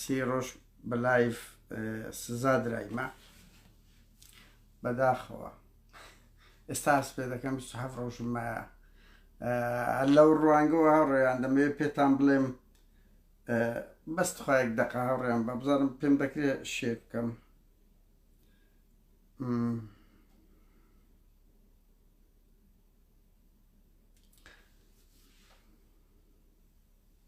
سی ڕۆژ بە لایف سزا درایمە بەداخەوە ئێستا هەست پێ دەکەم هەف ڕۆژم مایە لەو ڕوانگەوە هاوڕێیان دەمەوێت پێتان بڵێم بەست خۆیەک دەقا هاوڕێیان بە بزانم پێم دەکرێت شێ بکەم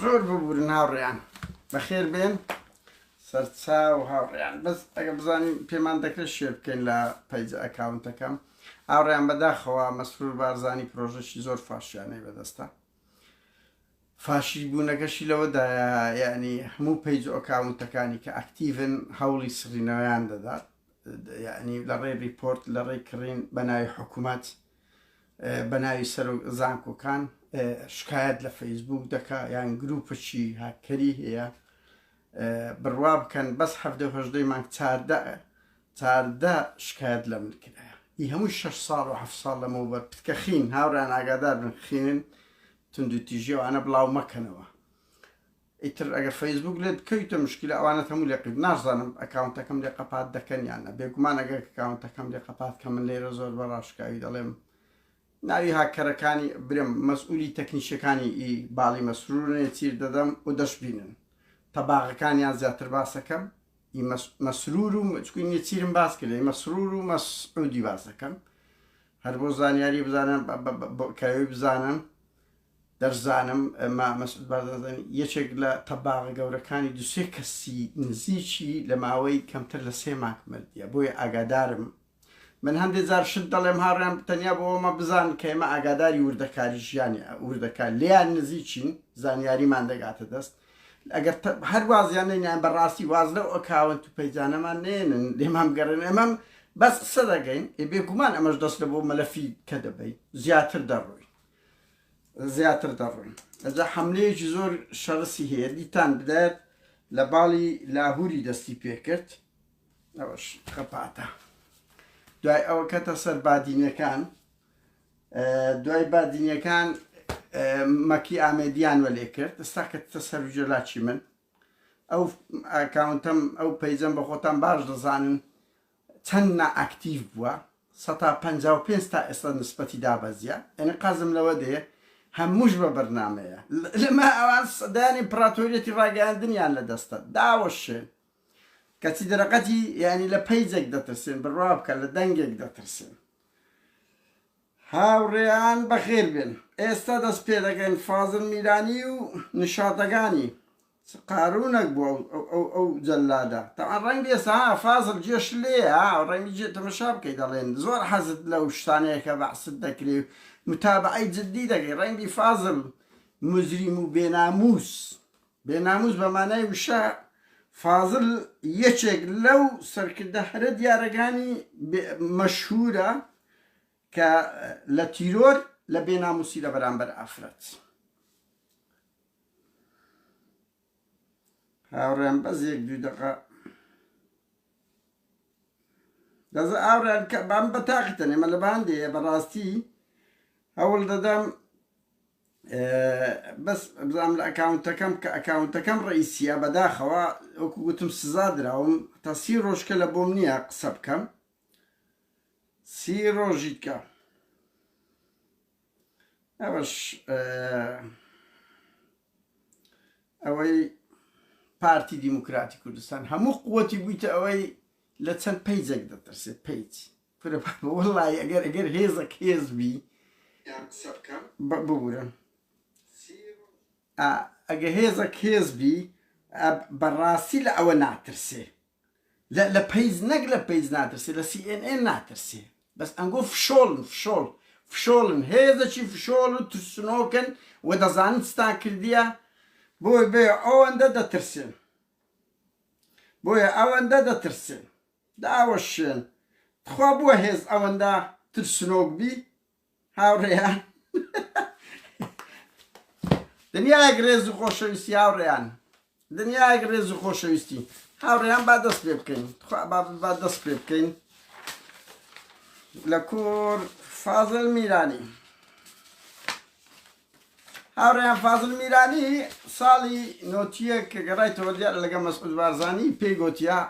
زۆر ببورن هاوڕێیان بەخێر بێن سەرچا و هاوڕێیان بەس ئەگە بزانین پێمان دەکرێت شێ بکەین لە پەیج ئەکاونتەکەم ئاوڕیان بەداخەوە مەسرور بارزانانی پرۆژەشی زۆر فاشیانەی بەدەستە فاشیست بوونەکەشی لەوەدایە یانی هەموو پەیج و ئەکاونتەکانی کە ئەکتیڤن هەوڵی سڕینەوەیان دەدات یانی لەڕێی ڕیپۆرت لەڕێی کڕین بەناوی حکومەت بەناوی سەرۆک زانکۆکان شکایەت لە فەیسبوک دەکا یان گروپەکی هاکەری هەیە بڕوا بکەن بەس هەفتە هەژدەی مانگ چاردە چاردە شکایەت لە من کرایە ئی هەموو شش ساڵ و هەف ساڵ لەمەوبەر پتکە خین هاوران ئاگادار بن خینن توندوتیژی ئەوانە بڵاو مەکەنەوە ئیتر ئەگەر فەیسبوک لێ بکەویتە مشکلە ئەوانە هەموو لێ قیت نازانم ئەکاونتەکەم لێ قەپات دەکەنیانە بێگومان ئەگەر کاونتەکەم لێ قەپات کە من لێرە زۆر بە ڕاشکاوی دەڵێم ناوی هاکەرەکانی برم مەسئولی تەکنیشەکانی ئی باڵی مەسرورێ چیر دەدەم و دەشبینن تەباغەکانیان زیاتر باسەکەم ی مەسرور و چکوی نێچیرم باس کردە ی مەسرور و مەس عودی باس دەکەم هەر بۆ زانیاری بزانە کەوێ بزانن دەرزانم ئەمە مەسعود بازازن یەکێک لە تەباغە گەورەکانی دوسێ کەسی نزیکی لە ماوەی کەمتر لە سێ ماک مردە بۆیە ئاگادارم من هەندێ جار شت دەڵێم هاڕێیان تەنیا بۆ ئەمە بزانن کە ئێمە ئاگاداری وردەکاری ژیانی وردەکار لێیان نزیکین زانیاریمان دەگاتە دەست ئەگەر هەر وازیان نینیان بەڕاستی واز لەو ئەکاون تو پەیجانەمان نێنن لێمان بگەڕێن ئەمەم بەس قسە دەگەین ئێ بێگومان ئەمەش دەست لە بۆ مەلەفی کە دەبین زیاتر دەڕۆین زیاتر دەڕۆین ئەجا حملەیەکی زۆر شەڕسی هەیە دیتان بدات لە باڵی لاهوری دەستی پێکرد ئەوەش خەپاتە دوای ئەوە کەتە سەر بادینەکان دوای بادینەکان مەکی ئامێدیان وەلێ کرد ئستا کەتە سەر جەلاچی من ئەو ئاکاونتەم ئەو پەیجەم بە خۆتان باش دەزانن چەند نائکتیڤ بووە 155 تا ئێستا نسبەتی دابەزیە ئەنی قازم لەوە دێ هەمووش بە بەرنمەیە لەمە ئەوان سەدانی پراتۆریەتی ڕاگەاندنیان لە دەستە داوەشێن کەچی دەرەقەتی یانی لە پەیجێک دەترسێن بڕوا بکە لە دەنگێک دەترسێن هاوڕێیان بەخێر بێن ئێستا دەست پێ دەکەین فازل میرانی و نشاتەکانی قارونەك بوو ئەو ئەو ئەو جەلادە تاوان ڕەنگی ئێستا فازل جێش لێە ڕەنگی جێ تەمەشا بکەی دەڵێن زۆر حەزت لەو شتانەیەکە بەعست دەکرێ متابعی جددی دەکەی ڕەنگی فازل مزریم و بێناموس بێ ناموس بە مانای وشە فازل یەکێک لەو سەرکردە هەرە دیارەکانی مەشهورە کە لە تیرۆر لە بێ ناموسی لە بەرامبەر ئافرەت هاوڕێن بەس یەک دوو دقە دەز ئاوران کە بام بە تاقتەنێ مە لە باندێ بەڕاستی هەوڵ دەدەم بەس بزانم لە ئەکاونتەکەم کە ئەکاونتەکەم ڕئیسیە بەداخەوە وەکو گوتم سزا دراوم تا سی ڕۆژکە لە بۆم نییە قسە بکەم سی ڕۆژیکە ئەوەش ئەوەی پارتی دیموکراتی کوردستان هەموو قوتی بوویتە ئەوەی لە چەند پیجێک دەترسێت پیج کورە بابە وەڵاهی ئەگەر ئەگەر هێزەک هێز بی یان قسە بکەم بە ببورە ئا ئەگە هێزەک هێز بی ئا بەڕاستی لە ئەوە ناترسێ لە لە پەیج نەک لە پەیج ناترسێ لە سی ئێن ئێن ناترسێ بەس ئەنگۆ فشۆڵن فشۆڵ فشۆڵن هێزەکی فشۆڵ و ترسنۆکن و دەزانن چتان کردیە بۆی بێ ئەوەندە دەترسێن بۆیە ئەوەندە دەترسێن داوەشێن تخوا بوە هێز ئەوەندە ترسنۆک بی هاوڕێیان دنیایەک ڕێز و خۆشەویستی هاوڕێیان دنیایەک ڕێز و خۆشەویستی هاوڕێیان با دەست پێ بکەین تخوا با دەست پێ بکەین لە کۆر فازل میرانی هاوڕێیان فازل میرانی ساڵی نۆتیە کە گەڕایتەوە دیار لەگە مەسعود بارزانانی پێی گوتیا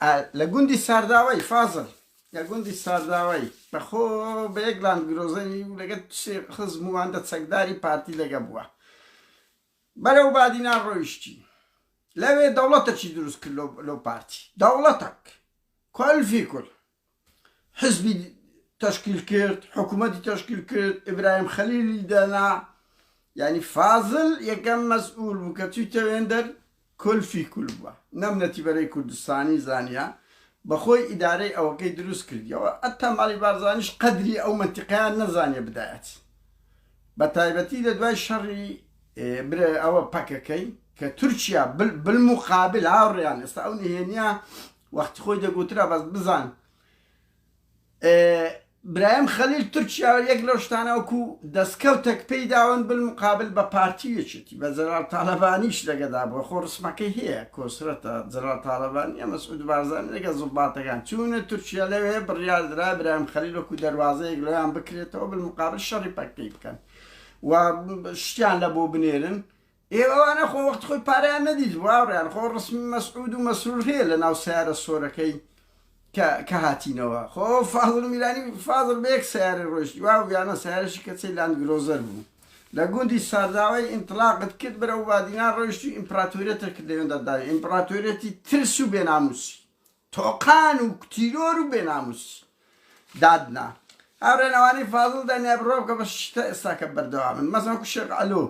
ئا لە گوندی سارداوای فازل لە گوندی سارداوای بە خۆ بە یەک لاند گرۆزەری و لەگە سێ خزم و هەندە چەکداری پارتی لەگە بووە بەرەو بادینان ڕۆیشتی لەوێ دەوڵەتەکی دروست کرد لۆ لۆ پارتی دەوڵەتەک کۆل فی کول حزبی تەشکیل کرد حکوومەتی تەشکیل کرد ئیبراهیم خەلیلی دەنا یعنی فازل یەکەم مەسئول بوو کە توی تەوێندەر کلفی کول بووە نەم نەتیبەرەی کوردستانی زانیە بەخۆی ئیدارەی ئەوەکەی دروست کردیەوە ئەتا ماڵی بارزانیش قەدری ئەو منتیقیان نەزانیە بدایەت بە تایبەتی لە دوای شەڕی برێ ئەوە پەکەکەی کە تورکیا بالمقابل هاوڕیان ئێستا ئەو نهێنیە وەختی خۆی دەگوترا بەس بزان برایم خەلیل تورکیا یەک لەو شتانە وەکو دەستکەوتەک پێی داون بن مقابل بە پارتی یەکێتی بە جەرال تاالبانیش لەگەدا بۆ خۆ ڕسمەکەی هەیە کۆسرەتە جەرال تاالبانی ئەمە سعود بارزان لەگە زڵباتەکان چونە تورکیا لەوێ بڕیاردرا برایم خەلیل وەکو دەواازەیەک لەیان بکرێتەوە بن مقابل شەڕی پەکەی بکەن و شتیان لە بۆ بنێرن ئێ ئەوانە خۆ وەختی خۆی پارەیان نەدیت هاوڕێیان خۆ ڕسمی مەسعود و مەسرور هەیە لە ناو سەیارە سۆرەکەی کە کە هاتینەوە خۆ فازڵ میرانی فازڵ بە یەک سەیارە ڕۆیشت وا ویانە سەیارەشی کەچەی لاند گرۆزەر بوو لە گوندی سارداوای ئینتڵاقت کرد بەرەو بادینان ڕۆیشتی ئیمپراتۆریەتە کرد لەوێندا داوی ئیمپراتۆریەتی ترس و بێناموسی تۆقان و تیرۆر و بێناموسی دادنا هاورێنەوانی فازڵ دەنیا بڕۆ بکە بە شتە ئێستاکە بەردەوامن مەسەن شێخ ئەلۆ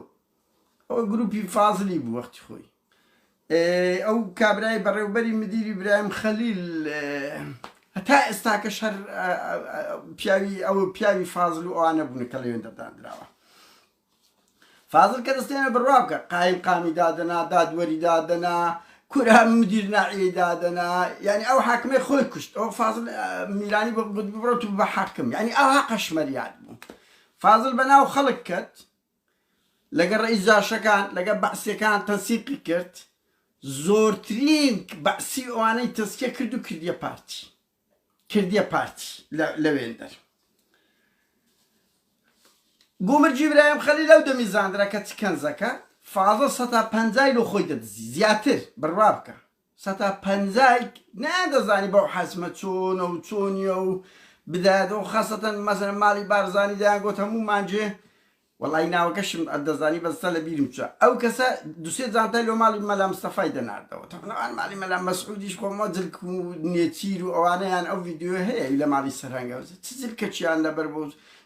ئەوە گروپی فازلی بوو وەختی خۆی. ئەو کابرای بەڕێوبەری مدیری برایم خەلیل هەتا ئێستاکەش هەر پیاوی ئەو پیاوی فازل و ئەوانە بوون کە لەوێن دەدانراوە فازل کە دەستێنە بڕوا بکە قایم قامی دادەنا دادوەری دادەنا کورا مدیر ناعی دادەنا یعنی ئەو حاکمە خۆی کوشت ئەو فازل میرانی بە گوت بڕۆ تو بە حاکم یعنی ئەو حقەشمەریاد بوو فازل بەناو خەڵک کەت لەگەڵ ڕەئیس جاشەکان لەگەڵ بەعسیەکان تەنسیقی کرد زۆرترین بەعسی ئەوانەی تەسکیە کرد و کردیە پارتی کردیە پارتی لەوێندەر گومر جیبرایم خەلی لەو دەمی زاندرا کە چ کەنزەکە فازە سەتا پەنجای لۆ خۆی دەدزی زیاتر بڕوا بکە سەتا پەنجایک نەیاندەزانی بەو حەجمە چۆنە و چۆنیە و بدایەدەوە خاصەتەن مەسەلەن ماڵی بارزانی دەیانگۆت هەموو مانجێ وەڵایی ناوەکەشم ئەتدەزانی بەس سە لەبیرم چوە ئەو کەسە دو سێ جانتای لۆ ماڵی مەلا مستەفای دەناردەوە تەبەن ئەوان ماڵی مەلا مەسعودیش خۆ مۆ جلک و نێچیر و ئەوانەیان ئەو ڤیدیۆیە هەیە ی لە ماڵی سەرهەنگەوە چ جلکەکیان لەبەر بۆ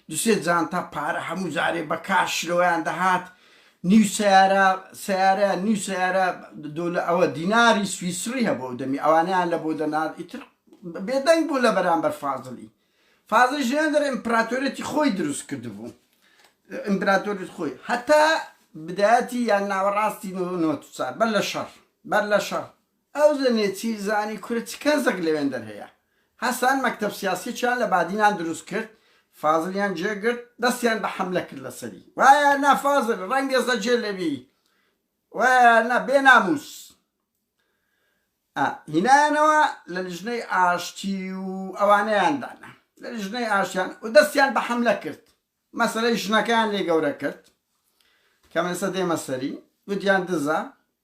دو سێ جانتا پارە هەموو جارێ بە کاش لۆیان دەهات نیو سەیارە سەیارەیان نیو سەیارە دولە ئەوە دیناری سویسڕی هەبوو ئەو دەمی ئەوانەیان لە بۆ دەنارد ئیتر بێدەنگ بوو لە بەرامبەر فازڵی فازڵی ژیان دەر ئیمپراتۆرێتی خۆی دروست کردبوو ئیمپراتۆریت خۆی هەتا بدایەتی یان ناوەڕاستی نۆ نۆ چار بەر لە شەڕ بەر لە شەڕ ئەو زەنیە چی زانی کورە چ کەزەک لەوێندەر هەیە هەستان مەکتەب سیاسیەکیان لە بادینان دروست کرد فازلیان جێ گرت دەستیان بە حەملە کرد لەسەری وایە نا فازل ڕەنگێزە جێ لەبی وایە نا بێ ناموس ئا هینایانەوە لە لیژنەی ئاشتی و ئەوانەیان دانا لە لیژنەی ئاشتیان و دەستیان بە حەملە کرد مەسەلەی ژنەکەیان لێ گەورە کرد کەمێسە دێمە سەری گوتیان دزە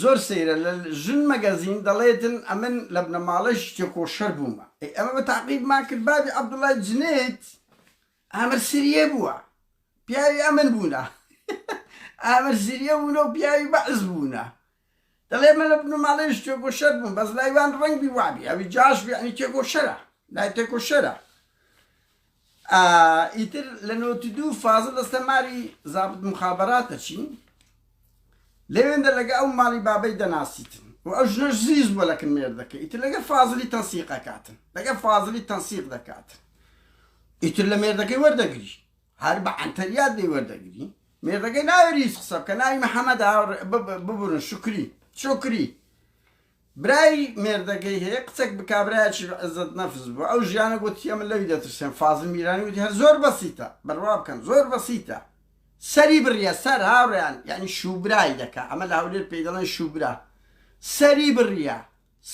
زۆر سەیرە لە ژن مەگەزین دەڵێتن ئەمن لە بنەماڵەیشی تێکۆشەر بوومە ئەی ئەمە بە تاقیبمان کرد بابی عەبدوڵای جنێد ئامر سریە بووە پیاوی ئەمن بوونە ئامر سریە بوونە و پیاوی بەعس بوونە دەڵێ من لە بنەماڵەیش تێکۆشەر بووم بەس لایوان ڕەنگبی وابی ئەوی جاش بێعنی تێکۆشەرە لای تێکۆشەرە ئیتر لە نۆتی دوو فازڵ دەستە ماری زابت مخابراتە چین لەوێندە لەگە ئەو ماڵی بابەی دەناسیتن و ئەو ژنەش زیز بووە لەکن مێردەکە ئیتر لەگە فازلی تەنسیقەکاتن لەگە فازلی تەنسیق دەکات ئیتر لە مێردەکەی وەردەگری هەر بە عەنتەریات دەی وەردەگری مێردەکەی ناوێری قسە بکە ناوی محەممەد ببورن شکری شکری برای مێردەکەی هەیە قسەک بکا برایەکی عزەت نەفس بوو ئەو ژیانە گۆتی ئەمن لەوی دەترسێم فازل میرانی وتی هەر زۆر بەسیتە بڕوا بکەن زۆر بەسیتە سەری بڕیە سەر هاوڕێیان یانی شوبرای دەکا ئەمە لە هەولێر پێی دەڵێن شوبرا سەری بڕیە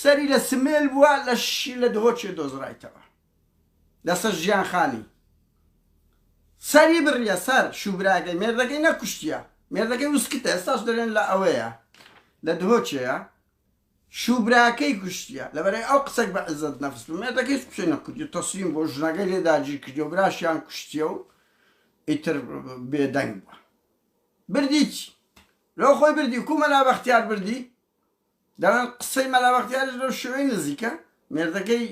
سەری لە سمێل بووە لەشی لە دهۆکێ دۆزرایتەوە. لەسەر ژیان خانی سەری بڕیە سەر شوبراگەی مێردەکەی نەکوشتیە مێردەکەی وسکتە ئێستاش دەرێن لە ئەوەیە لە دهۆکێە شوبراکەی کوشتیە لەبەرەی ئەو قسەک بە عزت نەفس بە مێردەکە هیچ قسەی نەکردی تەسلیم بۆ ژنەکەی لێ داگیر کردی و براشیان کوشتیە و ئیتر بێدەنگ بووە بردیچ لەو خۆی بردی کومەلا بەختیار بردی دەڵێن قسەی مەلا بەختیاریش لەو شێوەی نزیکە، مێردەکەی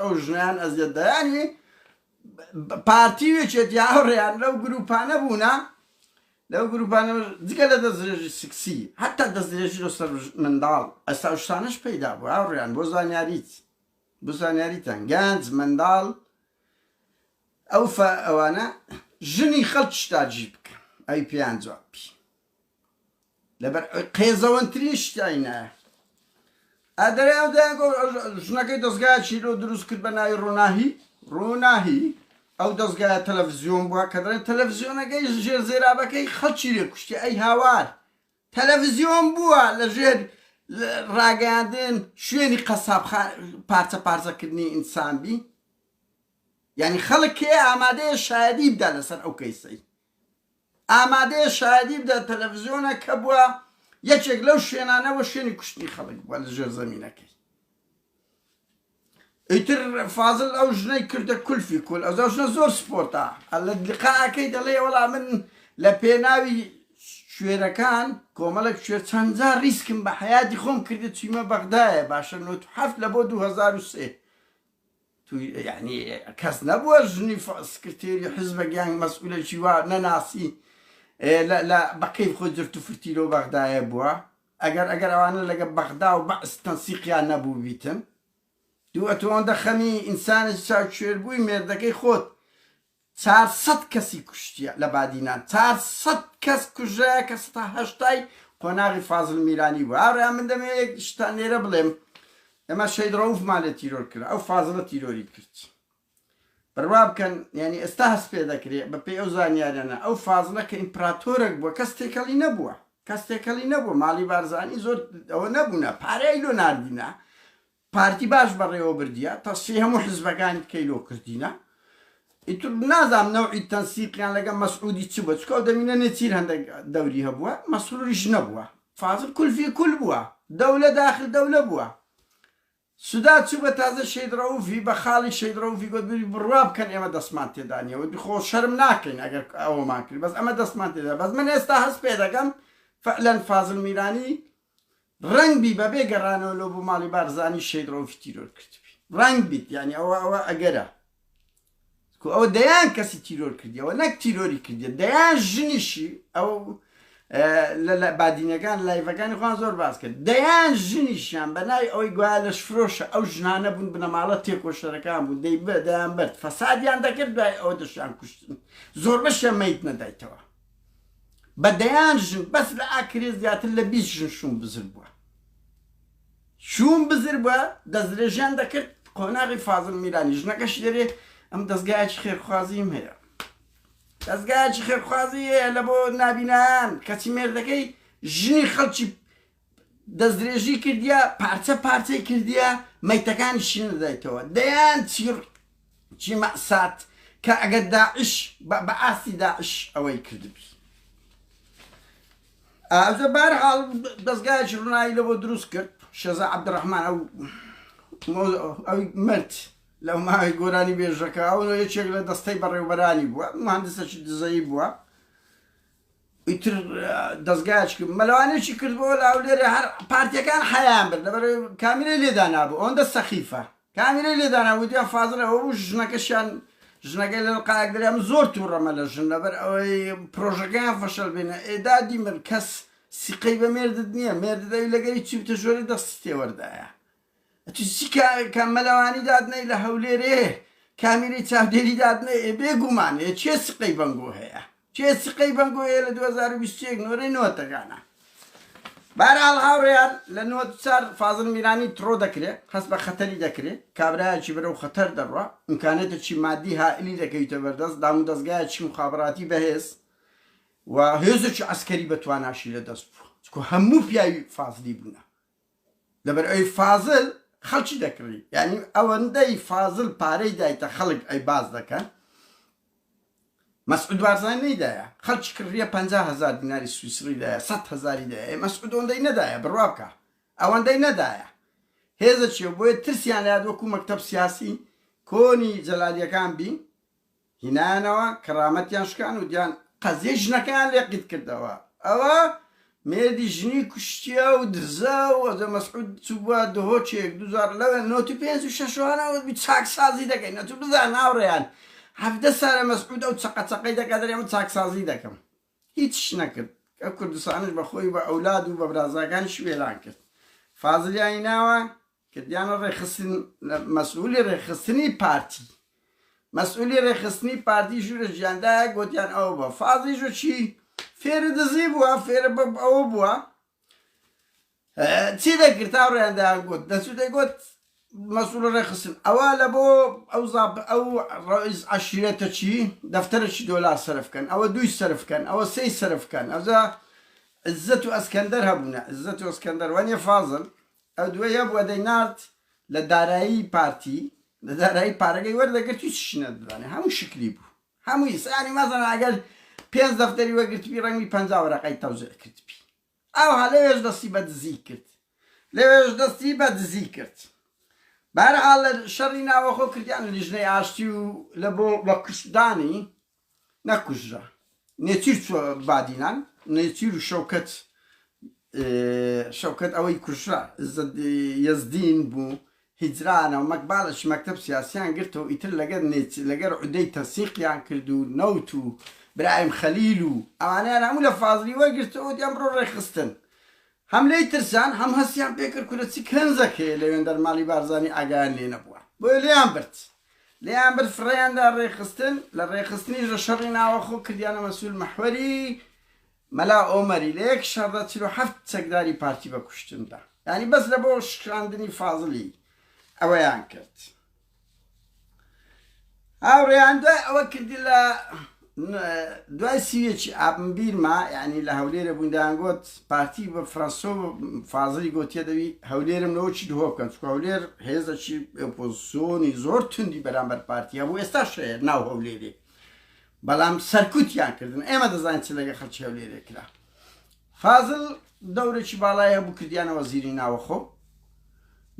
ئەو ژنەیان ئەزیەت دا، یانی پارتی و یەکێتی هاوڕێیان لەو گرووپانە بوونە، لەو گرووپانە جگە لە دەستدرێژی سکسی، هەتا دەستدرێژی لە سەر منداڵ، ئەستا ئەو شتانەش پەیدا بووە هاوڕێیان، بۆ زانیاریت، بۆ زانیاریتان گەنج، منداڵ، ئەو ئەوانە ژنی خەڵکیش تاجی بکەن، ئەوی پێیان جواب بی. لەبەر قێزەوەنترین شتیان نایە ئادەریان دەیان گۆ ژنەکەی دەستگای چیرۆ دروست کرد بە ناوی ڕووناهی ڕووناهی ئەو دەستگایە تەلەڤزیۆن بووە کە دەڵێن تەلەڤزیۆنەکەی ژێر زێرابەکەی خەڵکی لێ کوشتی ئەی هاوار تەلەڤزیۆن بووە لە ژێر ڕاگەاندن شوێنی قەساب پارچە پارچەکردنی ئینسان بی یعنی خەڵک کێ ئامادەیە شایدی بدا لەسەر ئەو کەیسەی ئامادەیە شایەدی بدات تەلەفزیۆنە کە بووە یەکێک لەو شوێنانە بۆ شوێنی کوشتنی خەڵک بووە لە ژێر زەمینەکەی ئیتر فازل ئەو ژنەی کردە کولفی کول ئەو ژنە زۆر سپۆرتە لە لقاکەی دەڵێ وەڵا من لە پێناوی شوێرەکان کۆمەڵک شوێر چەندجار ریسکم بە حیاتی خۆم کردە چیمە بەغدایە باشە نوت هەفت لە بۆ 2023 تو یانی کەس نەبووە ژنی سکرتێری حزبەک یان مەسئولەکی وا نەناسی لە بە کەیف خۆی جرت و فرتی لەو بەغدایە بووە ئەگەر ئەگەر ئەوانە لەگە بەغدا و بەعس تەنسیقیان نەبوو بیتن دوو ئەتۆ ئەوەندە خەمی ئینسانێکی چاوکوێر بووی مێردەکەی خۆت چار سەد کەسی کوشتیە لە بادینان چار سەد کەس کوژرایە کە سەتا هەشتای قۆناغی فازل میرانی بوو هاورێیان من دەمەوێ یەک شتان لێرە بڵێم ئێمە شەید رەوف مان لێ تیرۆر کرا ئەو فازلە تیرۆری کرد بڕوا بکەن یعنی ئێستا هەست پێ دەکرێ بە پێی ئەو زانیاریانە ئەو فازلە کە ئیمپراتۆرێک بووە کەس تێکەڵی نەبووە کەس تێکەڵی نەبووە ماڵی بارزانی زۆر ئەوە نەبوونە پارەی لۆ ناردینە پارتی باش بەڕێوە بردیە تەسفی هەموو حزبەکانی تکەی لۆ کردینە ئیتر نازام نەوعی تەنسیقیان لەگە مەسعودی چ بە چکەو دەمینە نێچیر هەندێک دەوری هەبووە مەسروریش نەبووە فازل کولفی کول بووە دەولە داخل دەولە بووە سودا چوو بە تازە شەید ڕەوفی بە خاڵی شەید ڕەوفی گوت بری بڕوا بکەن ئێمە دەستمان تێدانە وتی خۆ شەرم ناکەین ئەگەر ئەوەمان کرد بەس ئەمە دەستمان تێدا بەس من ئێستا هەست پێ دەکەم فعلەن فازل میرانی ڕەنگ بی بەبێ گەڕانەوە لۆ بۆ ماڵی بارزانی شەید ڕەوفی تیرۆر کردبی ڕەنگ بیت یانی ئەوە ئەوە ئەگەرە کو ئەوە دەیان کەسی تیرۆر کردیەوە نەک تیرۆری کردیە دەیان ژنیشی ئەو لە بادینەکان لایڤەکانی خوان زۆر باس کرد دەیان ژنیشیان بە ناوی ئەوەی گویا لەش فرۆشە ئەو ژنانە بوون بنەماڵە تێکۆشەرەکان بوو دەی بە دەیان برد فەسادیان دەکرد دوای ئەو دەشیان کوشتن زۆر بەشیان میت نەدایتەوە بە دەیان ژن بەس لە ئاکرێ زیاتر لە بیست ژن شووم بزر بووە شووم بزر بووە دەستدرێژیان دەکرد قۆناغی فازڵ میرانی ژنەکەش لێرێ ئەم دەستگایەکی خێرخوازیم هەیە دەستگایەکی خێرخوازی هەیە لە بۆ نابینان کەچی مێردەکەی ژنی خەڵکی دەستدرێژی کردیە، پارچە پارچەی کردیە، مەیتەکانی شینردایتەوە. دەیان چیڕ چی مەئسات کە ئەگەر داعش بە بە ئاستی داعش ئەوەی کردبی. ئازە بار حاڵ دەستگایەکی ڕنایی لەوە دروست کرد شێزا عبدڕحمان ئەو ئەوی مرد لەو ماوەی گۆرانی بێژەکە ئەو یەکێک لە دەستەی بەڕێوبەرانی بووە مهندسەکی دزەی بووە ئیتر دەزگایەکی مەلەوانێکی کردبۆوە لە هەولێرێ هەر پارتیەکان حەیایان برد لەبەرئەوەی کامیرەی لێدانابوو ئەوەندە سەخیفە کامیرەی لێدانابوو دیار فازل ئەوە بوو ژنەکەشیان ژنەکەی لە قایەک دریا من زۆر توڕەمە لە ژن لەبەر ئەوەی پرۆژەکەیان فەشەل بینە ئێدادی من کەس سیقەی بە مێردت نییە مێردت ئەوی لەگەری چی بتە ژۆرێ دەستی تێوەردایە ئەتو چی کە مەلەوانی دادنێی لە هەولێر ئێ کامیرەی چاودێری دادنێ ئێ بێ گوومان ئێ چێ سقەی بەنگۆ هەیە چێ سقەی بەنگۆ هەیە لە دوو هەزار و بیست و یەک نۆرەی نۆتەکانە بەرحاڵ هاوڕێیان لە نۆت و چار فازڵ میرانی تڕۆ دەکرێ هەست بە خەتەری دەکرێ کابرایەکی برەو خەتەر دەڕوا ئیمکانێتە چی مادی هائلی دەکەویتە بەردەست دام و دەزگایە چی مخابڕاتی بەهێز و هێزێکی عەسکەری بە تواناشی لە دەست بوو چکۆ هەموو پیاوی فازلی بوونە لەبەر ئەوی فازل خەڵکی دەکڕی یعنی ئەوەندەی فازل پارەی دایتە خەڵک ئەی باز دەکەن مەسعود بارزانی نەیدایە خەڵکی کڕیە پ هزار دیناری سویسڕی دایە سە هزاری دایە مەسعود ئەوەندەی نەدایە بڕوا بکە ئەوەندەی نەدایە هێزە چیە بۆیە ترسیان لە وەکو مەکتەب سیاسی کۆنی جەلالیەکان بین هینایانەوە کەڕامەتیان شکان و دیان قەزیەی ژنەکەیان لێ قیت کردەوە ئەوە مێردی ژنی کوشتیە و دزە و ئەزە مەسعود چوبوە دهۆچێک دوزار لەوێ نۆتی پێنج و شەشوانەوە بی چاکسازی دەکەین نەتو بزان هاوڕێیان هەڤدە سارە مەسعود ئەو چەقە چەقەی دەکات دەرێ من چاکسازی دەکەم هیچ نەکرد کە کوردستانش بە خۆی بە ئەولاد و بە برازاکانیش وێران کرد فازلیانی ناوە کردیانە ڕێکخستن مەسئولی ڕێکخستنی پارتی مەسئولی ڕێکخستنی پارتی ژوورە ژیاندا گوتیان ئەوە بە فازی ژو چی فێرە دزی بووە فێرە بە ئەوە بووە چی دەکرد تا ڕێیاندا گوت دەچوو دەگوت مەسول ڕێخستن ئەوە لە بۆ ئەو زاب ئەو ڕئیز عشیرەتە چی دەفتەرەی دۆلار سرفکەن ئەوە دوی سرفکەن ئەوە سی سرفکەن ئەوزە عزت و ئەسکەندەر هەبوونە عزت و ئەسکەندەر وەنیە فازل ئەو دوایە بوە دەینارد لە دارایی پارتی لە دارایی پارەکەی وەردەگرت هیچ شی نەدەدانێ هەموو شکلی بوو هەمووی سانی مەزەنە ئەگەر پێنج دەفتەری وەگرتبی ڕەنگی پەنج وەرەقەی تەوزێ کردبی ئاوها لەوێش دەستی بە دزی کرد لەوێش دەستی بە دزی کرد بارحال لە شەڕی ناوەخۆ کردیان لیژنەی ئاشتی و لە بۆ بە کوشتدانی نەکوژرا نێچیر چوە بادینان نێچیر و شەوکەت شەوکەت ئەوەی کوژرا یەزدین بوو هیجرانەوە مەکبالەش مەکتب سیاسیان گرتەوە ئیتر لەگەر نێچ لەگەر عودەی تەسیقیان کرد و نەوت و برایم خەلیل و ئەوانیان هەموو لە فازلی وەرگرتەوە دیان بڕۆ ڕێخستن هەم لێی ترسان هەم هەستیان پێ کرد کورە چ کەنزەکەیە لەوێندەر ماڵی بارزانی ئاگایان لێ نەبووە بۆیە لێیان برد لێیان برد فڕێیان دا ڕێخستن لە ڕێخستنیش لە شەڕی ناوەخۆ کردیانە مەسول مەحوەری مەلا ئۆمەری لە یەک شەڕدا چل و حەفت چەکداری پارتی بە کوشتن دا یانی بەس لە بۆ شکاندنی فازڵی ئەوەیان کرد. هاوڕێیان دوای ئەوە کردی لە دوای سیوێکی ئابم بیرما یعنی لە هەولێرە بووین دەیانگوت پارتی بە فرەنسۆ فازری گوتیە دەوی هەولێرم لەوەکی دهۆ بکەن چکە هەولێر هێزەکی ئۆپۆزسیۆنی زۆر توندی بەرامبەر پارتیە بوو ئێستا شەیە ناو هەولێری بەڵام سەرکوتیان کردن ئێمە دەزانین چ لەگە خەلکی هەولێرێ کرا فازڵ دەورێکی باڵای هەبوو کردیانە وەزیری ناوەخۆ،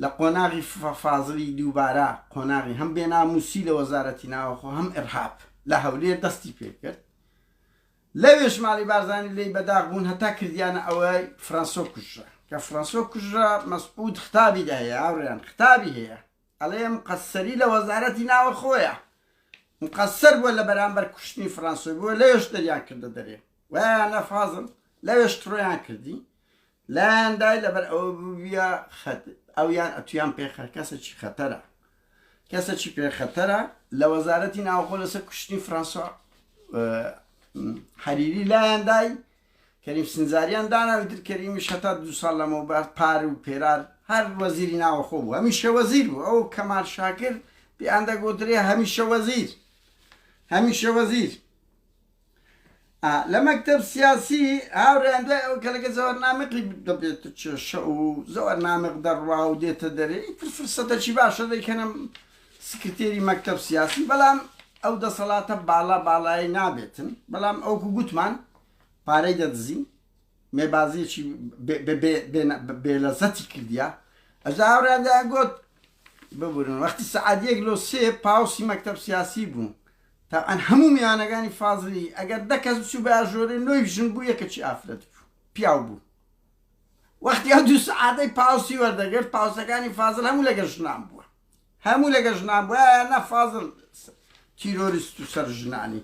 لە قۆناغی فازڵی دووبارە قۆناغی هەم بێنامووسی لە وەزارەتی ناوەخۆ هەم ئیڕهاب لە هەولێر دەستی پێکرد، لەوێش ماڵی بارزانی لێی بە داخ بوون هەتا کردیانە ئەوەی فرەنسۆ کوژرا، کە فرەنسۆ کوژرا مەسعود ختابی دەهەیە هاوڕێیان خطابی هەیە، ئەڵێ مقەسەری لە وەزارەتی ناوەخۆیە مقەسەر بووە لە بەرامبەر کوشتنی فرانسۆی بووە لەوێش دەریان کردە دەرێ وایانە فازم لەوێش تڕۆیان کردی لایاندای لەبەر ئەوە بووە ئەویان ئەتویان پێ خەرکەسەکی خەتەرە کەسەکی پێ خەتەرە لە وەزارەتی ناوخۆ لەسەر کوشتنی فرانسۆ حەریری لایاندای کەریم سنجاریان داناوی تر کەریمیش هەتا دوو ساڵ لەمەوبەر پار و پێرار هەر وەزیری ناوەخۆ بوو هەمیشە وەزیر بوو ئەو کەمال شاکر پێیان دەگۆترێ هەمیشە وەزیر هەمیشە وەزیر لە مەکتب سیاسی هاوریان دوای ئەو کەلەکە زەوەر نامەقی دەبێت کێشە و زەوەر نامەق دەڕوا و دێتە دەرێ فرسەتەکی باشە دەیکەنم سکرتێری مەکتەب سیاسی بەلام ئەو دەسەلاتە بالا باڵایەی نابێتن بەلام ئەوکو گوتمان پارەی دەدزین مێبازیەکی بێلەزەتی کردیا ئەجا ئەورادا گوت ببورن وەختی سعادیەک لۆ سێ پاوسی مەکتەب سیاسی بوو تاعەن هەموو میانەکانی فازلی ئەگەر دەکەس بچوو بە ئاژۆرێ نۆی ژن بوو یەکەچی ئافرەت بوو پیاو بوو وەختی ئەو دوو سعادەی پاوسی وەردەگرت پاوسەکانی فازل هەموو لەگە ژنان بووە هەموو لەگە ژنان بووە یا نا فازڵ تیرۆریست و سەر ژنانی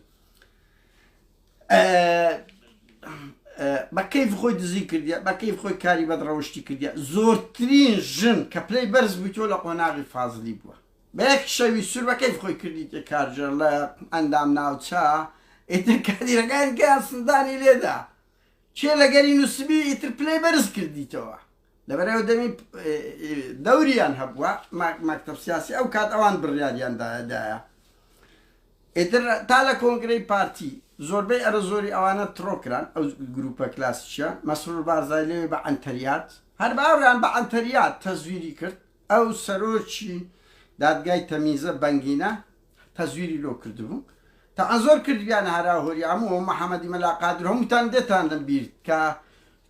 بە کەیف خۆی دزی کردە بە کەیف خۆی کاری بەد ڕەوشتی کردە زۆرترین ژن کە پلەی بەرز بووی تۆ لە قۆناغی فازلی بووە بەیەک شەوی سور بە کەیف خۆی کردی تێ کارجەر لە ئەندام ناوچە ئێتر کادیرەکان گیان سندانی لێدا کێ لەگەری نوسبی ئیتر پلەی بەرز کردیتەوە لەبەرئەوە دەمی دەوریان هەبووە مەکتەب سیاسی ئەو کات ئەوان بڕیاریان دایە ئیتر تا لە کۆنگرەی پارتی زۆربەی ئەرە زۆری ئەوانە تڕۆکران ئەو گروپە کلاسیشە مەسرور بارزای لێ بە ئەنتەریات هەر باوریان بە ئەنتەریات تەزویری کرد ئەو سەرۆکی دادگای تەمیزە بەنگینە تەزویری لۆ کردبوو تا زۆر کردبیانە هەرا و هۆریا هەموو ئەو محمدی مەلا قادر هەمووتان دێتان لە بیر کە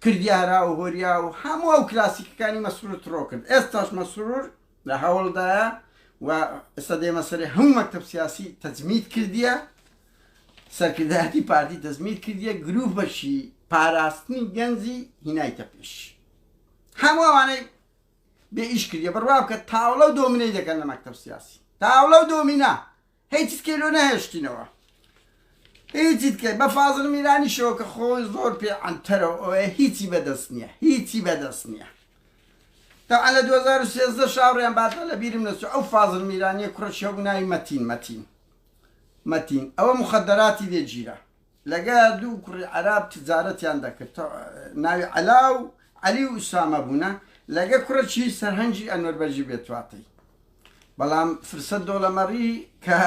کردیە هەرا و هۆریا و هەموو ئەو کلاسیکەکانی مەسرور تڕۆ کرد ئێستاش مەسرور لە هەوڵدایە و ئێستا دێمە سەرێ هەموو مەکتب سیاسی تەجمید کردیە سەرکردایەتی پارتی تەزمید کردیە گروپەشی پاراستنی گەنجی هینایتە پێش هەمووانەی بێ ئیش کردیە بڕوا بکە تاوڵە و دۆمینەی دەکەن لە مەکتەب سیاسی تاوڵە و دۆمینا هیچت کەی لۆ نەهێشتینەوە هیچیت کە بە فازر میرانی شەوە کە خۆی زۆر پێ ئەنتەرەوە ئەوەیە هیچی بەدەست نییە هیچی بەدەست نییە تا لە 2013 شاڕیان باتە لە بیرم نەچوو ئەو فازر میرانیە کوڕە شەو ناوی مەتین مەتین مەتین ئەوە مخدراتی لێ گیرە لەگە دوو کوڕی عەراب تجارەتیان دەکرد ناوی عەلا و عەلی و ئوسامە بوونە لەگە کوڕەکی سەرهەنگی ئەنوەر بەگی بێتواتەی بەڵام فرسە دۆڵەمەڕی کە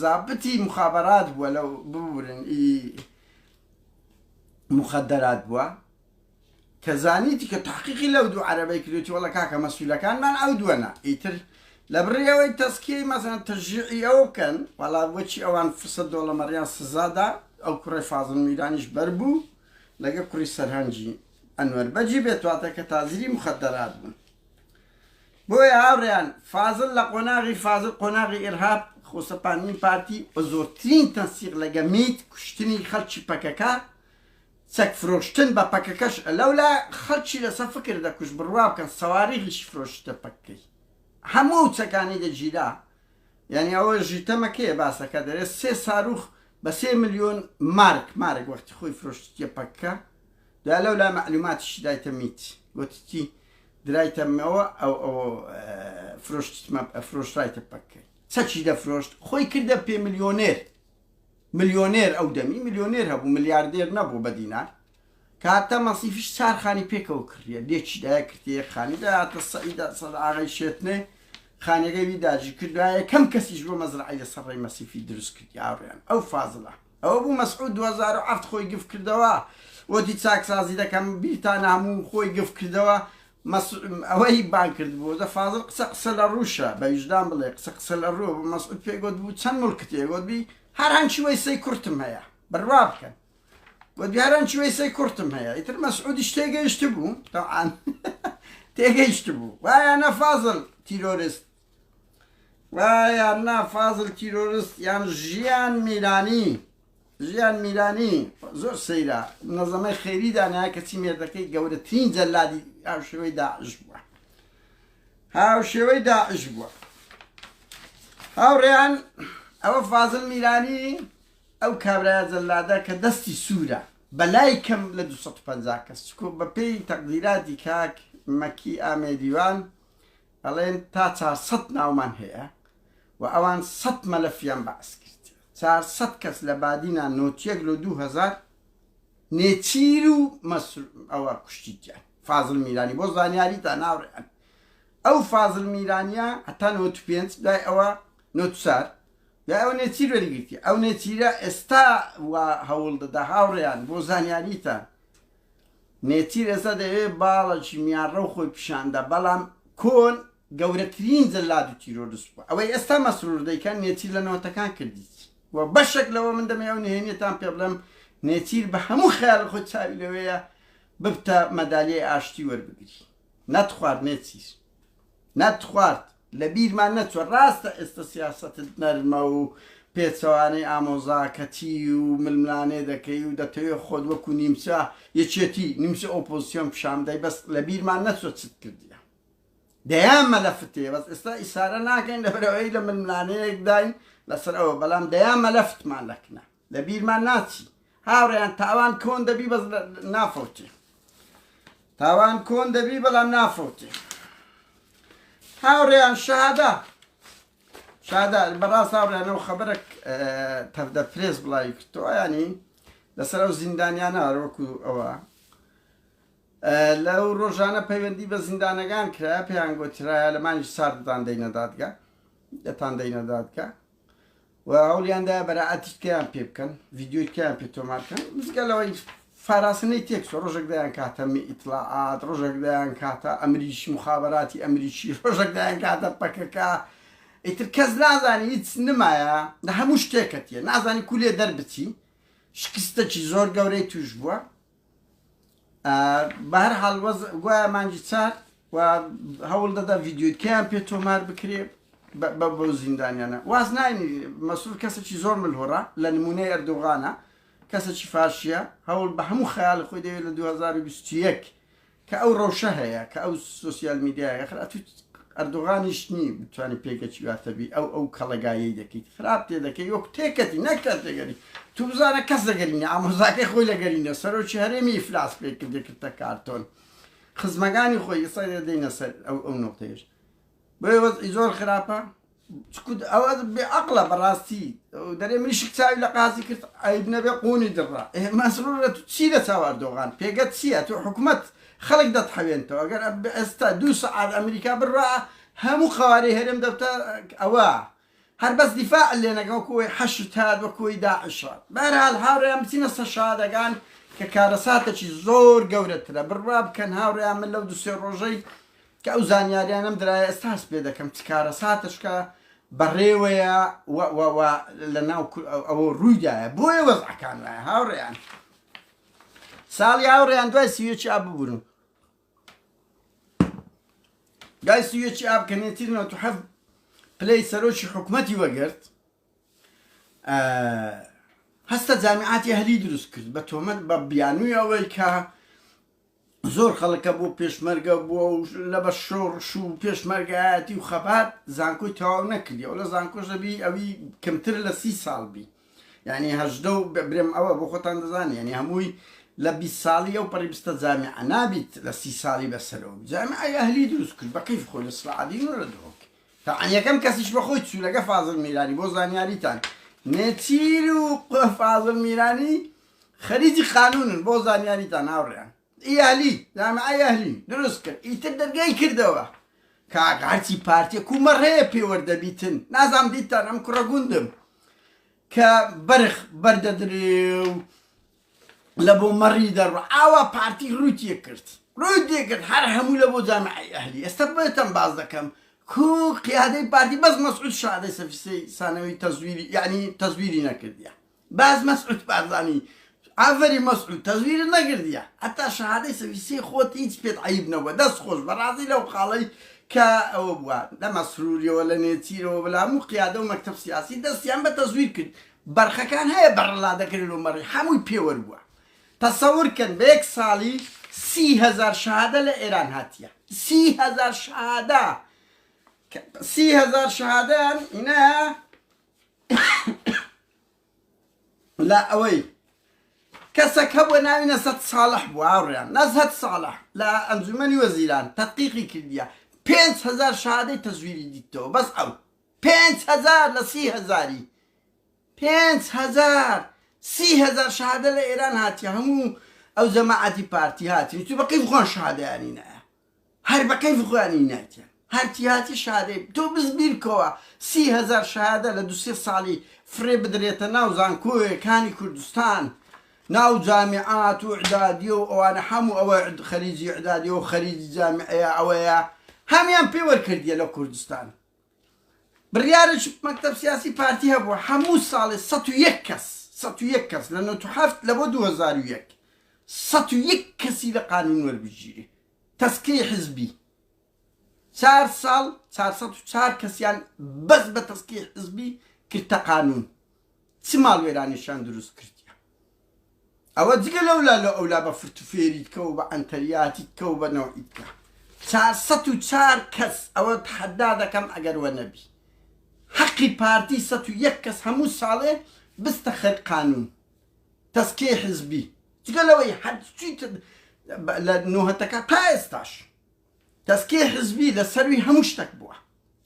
زابتی مخابرات بووە لەو ببورن ئی مخدرات بووە کە زانیتی کە تەحقیقی لەو دوو عەرەبەی کردوویەتی وەڵڵە کاکە مەسولەکانمان ئەو دووەنە ئیتر لە بڕی ئەوەی تەزکیەی مەسەلەن تەشجیعی ئەوە بکەن وەڵا بۆچی ئەوان فرسەت دۆڵەمەڕیان سزا دا ئەو کوڕەی فازڵ میرانیش بەر بوو لەگە کوڕی سەرهەنجی ئەنوەر بەجی بێت واتە کە تازری مخدرات بوون بۆیە هاوڕیان فازل لە قۆناغی فازل قۆناغی ئێرهاب خۆسەپاندنی پارتی بە زۆرترین تەنسیق لەگە میت کوشتنی خەڵکی پەکەکە چەک فرۆشتن بە پەکەکەش لەولا خەلکی لەسە فکر دەکوشت بروا بکەن سەواریغیشی فرۆشتە پەککەی هەموو ئەو چەکانی دەگیرا یانی ئەوە ژی تەمە کێ باسەکە دەرێ سێ ساروخ بە سێ ملیۆن مارک مارک وەختی خۆی فرۆشتیە پەککە دوای لەولا مەعلوماتیشی دایتە میت گوتتی درایتەمەوە ئەو ئەو فرۆشتمە فرۆشرایتە پەککەی چەکی دەفرۆشت خۆی کردە پێ ملیۆنێر ملیۆنێر ئەو دەمی ملیۆنێر هەبوو ملیاردێر نەبوو بە دینار کاتە مەسیفیش چار خانی پێکەوە کڕیە لێکی دایە کردی یەک خانی دەهاتە سەعیدا سەد ئاغای شێتنێ خانەکەی وی داجی کردوە یەکەم کەسیش بۆ مەزرعی لە سەڕی مەسیفی دروست کردی ئاڕیان ئەو فازلە ئەوە بوو مەسعود 2007 خۆی گفت کردەوە وەتی چاکسازی دەکەم بیرتانە هەموو خۆی گفت کردەوە مەسعود ئەوەی بانگ کردبوو دە فازڵ قسە قسە لە ڕووشە بە ویژدان بڵێ قسە قسە لە ڕووە بە مەسعود پێ گۆت بوو چەند موڵکت هەیە گۆت بی هەر هەنچی وەیسەی کورتم هەیە بڕوا بکەن گۆت بی هەر هەنچی وەیسەی کورتم هەیە ئیتر مەسعودیش تێگەیشت بوو تەعان تێگەیشت بوو وایە نە فازڵ تیرۆرست وا یان نا فازل تیرۆرست یان ژیان میرانی ژیان میرانی زۆر سەیرە نەزەمەی خێری دانای کەچی مێردەکەی گەورەترین جەلادی هاوشێوەی داعش بووە هاوشێوەی داعش بووە هاوڕێیان ئەوە فازل میرانی ئەو کابراە جەلادە کە دەستی سوورە بەلای کەم لە 250 کەس چکۆ بەپێی تەقدیراتی کاک مەکی ئامێدیوان ئەڵێن تا چار سەد ناومان هەیە و ئەوان سەد مەلەفیان بەعس کرد چار سەد کەس لە بادینا نۆتیەک لۆ دوو هەزار نێچیر و مەسر ئەوە کوشتیتیان فازل میرانی بۆ زانیاری تا ناوڕێن ئەو فازل میرانیا هەتا نۆت پێنج دوای ئەوە نۆتسار یا ئەو نێچیر وەریگرتی ئەو نێچیرە ئێستا و هەوڵ دەدا هاوڕێیان بۆ زانیاریتان نێچیر ئێستا دەیەوێ باڵەکی میانڕەو خۆی پیشاندا بەڵام کۆن گەورەترین جەلاد و تیرۆرست بوە ئەوەی ئێستا مەسرور دەیکا نێچیر لە نەوەتەکان کردیتی و بەشەک لەوە من دەمێ ئەو نهێنیەتان پێ بڵێم نێچیر بە هەموو خەیاڵ خۆی چاوی لەوەیە ببتە مەدالیای ئاشتی وەربگری نەتخوارد نێچیر. نەتخوارد لە بیرمان نەچوە ڕاستە ئێستە سیاسەتت نەرمە و پێچەوانەی ئامۆزاکەتی و ململانێ دەکەی و دەتەوێ خۆت وەکو نیمچە یەکێتی نیمچە ئۆپۆزسیۆن پیشان بدەی بەس لە بیرمان نەچوە چت کردیە دەیان مەلەفت هەیە بەس ئێستا ئیسارە ناکەین لەبەرەوەی لە ململانەیەکداین لەسەر ئەوە بەڵام دەیان مەلەفتمان لەکنە لە بیرمان ناچی هاوڕێیان تاوان کۆن دەبی بەس نافەوتی تاوان کۆن دەبی بەڵام نافەوتی هاوڕێیان شەهادا شادا بەڕاست هاوڕێیانەوە خەبەرێک تەفدە پرێس بڵاوی کردەوە ینی لەسەر ئەو زیندانیانە هەروەکو ئەوە لەو ڕۆژانە پەیوەندی بە زیندانەکان کرا پێیان گۆترایە لەمانی سارددان دەینەدادگە دەتان دەینەدادگە و هەوڵیان دایە بەرائەتی تکەیان پێ بکەن ڤیدیۆی تکەیان پێ تۆمار بکەن جگە لەوەی فاراسنەی تێکسۆ ڕۆژێک دەیان کاتە ئیتلاعات ڕۆژێک دەیان کاتە ئەمریکی مخابراتی ئەمریکی ڕۆژێک دەیان کاتە پەکەکە ئیتر کەس نازانی هیچ نمایە لە هەموو شتێکەتیە نازانی کولێ دەربچی شکستەکی زۆر گەورەی توش بووە بەهەر حاڵ وەز گوایە مانگی چار و هەوڵ دەدا ڤیددیوکەیان پێ تۆمار بکرێ بە بۆ زیندانیانە واز ناینی مەسول کەسێکی زۆر ملهۆڕە لە نمونەی ئەردوغانە کەسێکی فاشیە هەوڵ بە هەموو خەیاڵ خۆی دەوێت لە 2021 کە ئەو ڕەوشە هەیە کە ئەو سۆسیال میدیایە خر ئەتوو ئەردۆغانیش نی بتوانانی پێگەچی واتەبی ئەو ئەو کەڵەگایەی دەکەیت خراپ تێ دەکەی وەک تێکەتی نەکات تێگەری تو بزانە کەس دەگەرینە ئامۆزاکەی خۆی لەگەرینە سەرۆکی هەرێمی ئیفلاس پێ کردێکردە کارتۆن خزمەکانی خۆی ئێستا دێنە سەر ئەو ئەو نقطەیەش بۆیە وەزعی زۆر خراپە چکوت ئەوە بێ عقلە بەڕاستی دەرێ منی شک چاوی لە قازی کرد عیب نەبێ قونی دڕا مەسرورە تو چی لە چاو ئەردۆغان پێگەت چییە تو حکومت خەڵک دەتحەوێنتەوە ئەگەر ئێستا دوو سەعات ئەمریکا بڕا هەموو قوارەی هەرێم دەبتە ئەوە هەر بەس دیفاع اللە نەکە وەکو وەی حەشد هات وەکو وەی داعش هات بەهەرحال هاوڕێیان بچینە سەر شەهادەکان کە کارەساتەکی زۆر گەورەترە بڕوا بکەن هاوڕێیان من لەو دوو سێ ڕۆژەی کە ئەو زانیاریانەم درایە ئێستا هەست پێ دەکەم چ کارەساتەشکە بەڕێوەیە و و و لە ناو کور- ئەو- ئەوە ڕوویدایە بۆیە وەزعەکان وایە هاوڕێیان ساڵی هاوڕێیان دوای سیوێکی ئا ببورن گای سویەکی ئاب کە نێتیر نۆت و حەفت پلەی سەرۆکی حکومەتی وەگرت هەستە جامیعاتی هەلی دروست کرد بە تۆمەت بە بیانووی ئەوەی کە زۆر خەڵکە بۆ پێشمەرگە بووە و لە بە شۆڕش و پێشمەرگایەتی و خەبات زانکۆی تەواو نەکردی ئەو لە زانکۆش دەبی ئەوی کەمتر لە سی ساڵ بی یانی هەژدە و برێم ئەوە بۆ خۆتان دەزانی یانی هەمووی لە بیست ساڵی ئەو پەڕی بستە جامیعە نابیت لە سی ساڵی بەسەرەوە بی جامیعەی ئەهلی دروست کرد بە کەیف خۆی لە سڵعەدین و لە دهۆک تەعەن یەکەم کەسیش بە خۆی چوو لەگە فازڵ میرانی بۆ زانیاریتان نێچیر و فازڵ میرانی خەریجی قانونن بۆ زانیاریتان هاوڕێیان ئیالی جامعەی ئەهلی دروست کرد ئیتر دەرگای کردەوە کاک هەرچی پارتیە کومەڕ هەیە پێوەردەبیتن نازام دیتان ئەم کوڕە گوندم کە بەرخ بەردەدرێ و لە بۆ مەڕی دەڕوە ئاوا پارتی ڕووتیە کرد ڕووی دێکرد هەر هەموو لە بۆ جامعی ئەهلی ئێستا بێتم باز دەکەم کو قیادەی پارتی بەس مەسعود شادەی سەفیسەی سانەوەی تەزویری یعنی تەزویری نەکردە باز مەسعود بارزانی ئافەرین مەسعود تەزویرت نەگردیە هەتا شەهادەی سەفی سێی خۆت هیچ پێت عەیب نەبوە دەست خۆش بەرازی لەو خاڵەی کە ئەوە بوە لە مەسروریەوە لە نێچیرەوە بە لامو قیادە و مەکتەب سیاسی دەستیان بە تەزویر کرد بەرخەکان هەیە بەرلا دەکرێن و مەڕی حەموی پێوەر بوە تەسەور کەن بە یەک ساڵی سی هەزار شەهادە لە ئێران هاتیە سی هەزار شەهادە سی هەزار شەهادەیان ئینە لە ئەوەی کەسەک هەبووە ناوی نەسەت ساڵح بوو هاوڕێیان نەزهەت ساڵح لە ئەنجومەنی وەزیران تەقیقی کردیە پێنج هزار شادەی تەزویری دیتەوە بەس ئەو پێنج هزار لە سی هزاری پێنج هزار سی هزار شادە لە ئێران هاتیە هەموو ئەو جەماعەتی پارتی هاتی چ بەقی بخۆن شادیانی نایە هەر بە کەیف خۆیانی نایتیان هەر تیاتی شادەی تۆ بس بیرکەوە سی هەزار شهادە لە دو سێ سالی فرێ بدرێتە ناو زانکۆێ کانی کوردستان ناو جامیعات و عدادیە و ئەوانە حەمو ئەوە خەریجی عدادیە و خەریجی جامیعەیە ئەوەیە هەمیان پێ وەرکردیە لە کوردستان بڕیارە چ مەکتەب سیاسی پارتی هەبووە هەموو ساڵێ سەد و یەک کەس سەد و یەک کەس لە نۆت و هەفت لە بۆ دوو هەزار و یەک سەد و یەک کەسی لە قانون وەربگیرێ تەسکەی حزبی چار ساڵ چار سەد و چار کەسیان بەس بە تەسکی حزبی کرتە قانون چ ماڵوێرانێکیان دروست کردیە ئەوە جگە لەولا لە ئەولا بە فرتوفێریت کە و بە ئەنتەریاتیت کە و بە نەوعیت کە چار سەد و چار کەس ئەوە تحەدا دەکەم ئەگەر وە نەبی حەقی پارتی سەد و یەک کەس هەموو ساڵێ بستە خەر قانون تەسکیە حزبی جگە لەوەی هەرچیت لە نۆهەتەکە تا ئێستاش دەستکەی حزبی لە سەروی هەموو شتەک بووە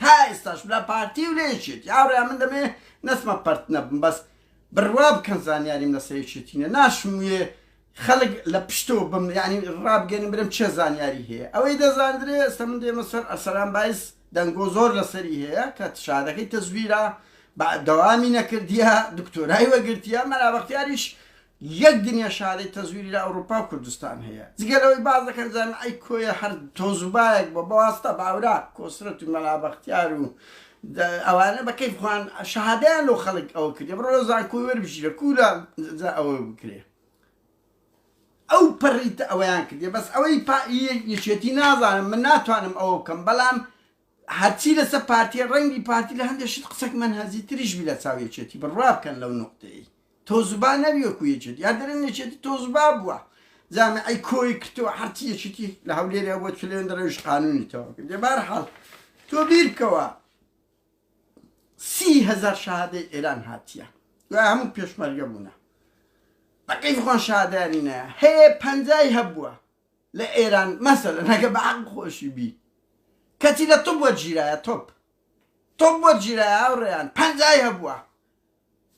تا ئێستاش لە پارتی و لە یەکێتی هاوڕێیان من دەمەوێ نەچمە پەرت نەبم بەس بروا بکەن زانیاریم لە سەر یەکێتی نیە ناشموێ خەڵک لە پشتەوە بم یعنی ڕابگەنم برم چێ زانیاری هەیە ئەوەی دەزاندرێ ئێستا من دێمە سەر ئەرسەلان بایز دەنگۆ زۆر لەسەری هەیە کە شادەکەی تەزویرە بە دەوامی نەکردیە دکتۆرای وەگرتیە مەلا بەختیاریش یەک دنیا شارەی تەزویری لە ئەوروپا و کوردستان هەیە جگە لەوەی باس دەکەن جامیعەی کۆیە هەر تۆزوبایەک بوە بەواستا بە ئەوراق کۆسرەت و مەلا بەختیار و ئەوانە بە کەیف خوان شەهادەیان لۆ خەلک ئەوە کردە بڕۆ لە زانکۆی وەربژیرە کولا جا ئەوە بکرێ ئەو پەڕیتە ئەوەیان کردێ بەس ئەوەی پا یەکێتی نازانم من ناتوانم ئەوە بکەم بەلام هەرچی لەسەر پارتیە ڕەنگی پارتی لە هەندێ شت قسەک مەنهەجی تریش بی لە چاو یەکێتی بڕوا بکەن لەو نوقتەیەی تۆز با نەبی وەکو یەکێتی یا دەرێن یەکێتی تۆز با بوە جامعەی کۆی کردوە هەرچی یەکێتی لە هەولێری هەبوە چلێن دەرەویش قانونی تەوا کرد لێ بار حاڵ تۆ بیر بکەوە سی هەزار شەهادەی ئێران هاتیە دوای هەموو پێشمەرگە بوونە بەقەی خۆن شادانی نایە هەیە پەنجای هەبووە لە ئێران مەسەلەن ئەگەر بە عەقڵ خۆشی بی کەچی لە طب وەرگیرایە طب طب وەرگیرایە هاوڕێیان پەنجای هەبووە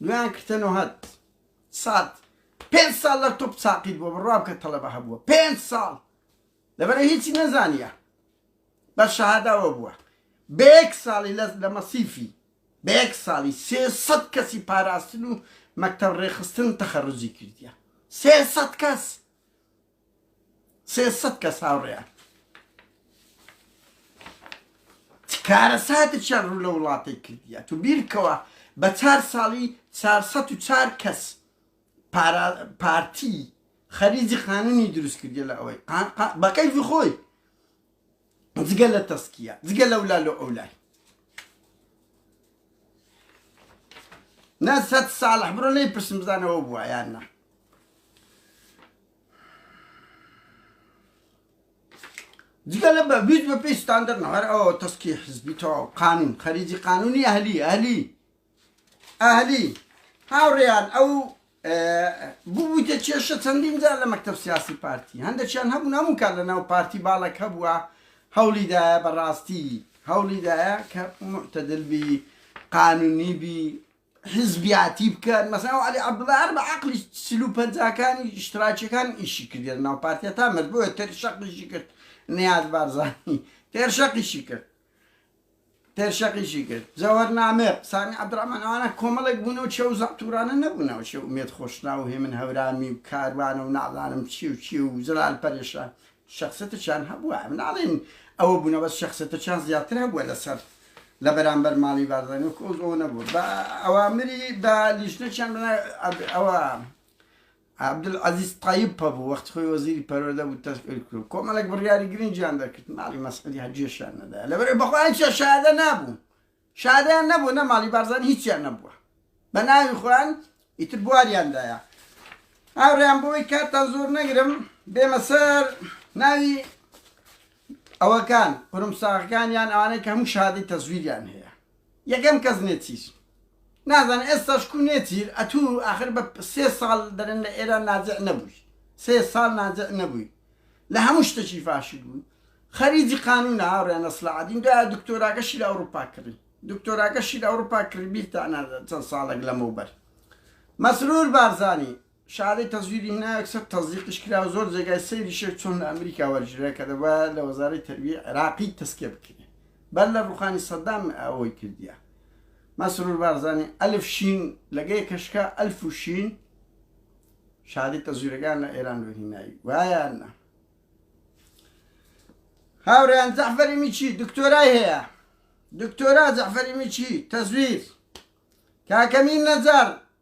دویان کردە نۆهەد سات پێنج ساڵ لە طب ساقیت بووە بڕوا بکە تەڵەبە هەبووە پێنج ساڵ لەبەرە هیچی نەزانیە بە شەهاداوە بووە بە یەک ساڵی لە لە مەسیفی بە یەک ساڵی سێ سەد کەسی پاراستن و مەکتەب ڕێخستن تەخەڕوجی کردیە سێ سەد کەس سێ سەد کەس هاوڕێیان چ کارەساتێکیان ڕوو لە وڵاتەی کردیە تو بیرکەوە بە چار ساڵی چار سەد و چار کەس پارتی خەریجی قانونی دروست کردیە لە ئەوەی بەکەیفی خۆی جگە لە تەسکیە جگە لە ولال و ئەولای نەسەت ساڵح بڕۆ لی پرسم بزانەوە بووە یان نە جگە لە بە بیت بە پێی ستاندەر نەوەر ئەوە تەسکی حزبی تەواو قانون خەریجی قانونی ئەهلی ئەهلی ئەهلی، هاوڕێیان ئەو ببوویتە کێشە چەندین جار لە مەکتەب سیاسی پارتی هەندێکیان هەبوون هەموو کار لە ناو پارتی باڵک هەبووە هەوڵیدایە بەڕاستی هەوڵیدایە کە معتەدل بی قانونی بی حزبیاتی بکەن مەسا علی عبدڵار بە عقلی سلو پەنجاکانی شتراکیەکان ئیشی کردێت ناو پارتە تا مرد بۆە تێر شەقیشی کرد نیاز بارزانانی تێر شەقیشی کرد پێشەقیشی کرد جەوهەر نامێر، سامی عەبدوڕەحمان ئەوانە کۆمەڵێک بوون ئەو چێ و زەعتوورانە نەبوون ئەو چێ ئومێد خۆشناو و هێمن هەورامی و کاروانە و نازانم چی و چی و جەلال پەرێشان شەخسێتێکیان هەبووە ئەمە ناڵێین ئەوە بوونە بەس شەخسێتێکیان زیاتر هەبووە لەسەر لە بەرامبەر ماڵی بارزانی وەکو ئەو زۆنە بوو بە ئەوامری بە لیژنەکیان بە ئەوە عەبدولعەزیز تەیب پەڤ وەختی خۆی وەزیری پەروەردە بوو تەشکیل کرد و کۆمەڵێک بڕیاری گرنگیان دەکرد، ماڵی مەسعودی هەر گوێشیان نەدایە لەبەرئەوەی بە خۆیان چیان شایەدە نابوو، شایەدەیان نەبوو نە ماڵی بارزانی هیچیان نەبووە بە ناوی خۆیان ئیتر بواریان دایە. هاوڕێیان بۆوەی کاتتان زۆر نەگرم بێمە سەر ناوی ئەوەکان قورمساغەکان یان ئەوانەی کە هەموو شەهادەی تەزویریان هەیە. یەکەم کەس نێچیر نازانێ ئێستاش کو نێچیر ئەتوو ئاخر بە سێ ساڵ دەرێن لە ئێران نازع نەبووی سێ ساڵ نازع نەبووی لە هەموو شتەکی فاشل بووی خەریجی قانون هاوڕێنە سلاعدین دا دکتۆراگەشی لە ئەوروپا کڕی دکتۆراگەشی لە ئەوروپا کڕی بیرتانە چەند ساڵێک لەمەوبەر مەسرور بارزانی شەهادەی تەزویری هینا یەکسەر تەزدیقیش کرا و زۆر جێگای سەیریشە چۆن لە ئەمریکا وەرگیرا کە دەبوایە لە وەزارەی تەربیەی عێراقی تەسکیە بکرێ بەر لە ڕوخانی سەدام ئەوەی کردیە مەسرور بارزانی ئەلف شین لەگەی کەشکا ئەلف و شین شادی تەزویرەکان لە ئێران و هینایی وایان نە هاوریان جەعفەری میچی دکتۆرای هەیە دکتۆرا جەعفەری میچی تەزویر کاکەمین نەجار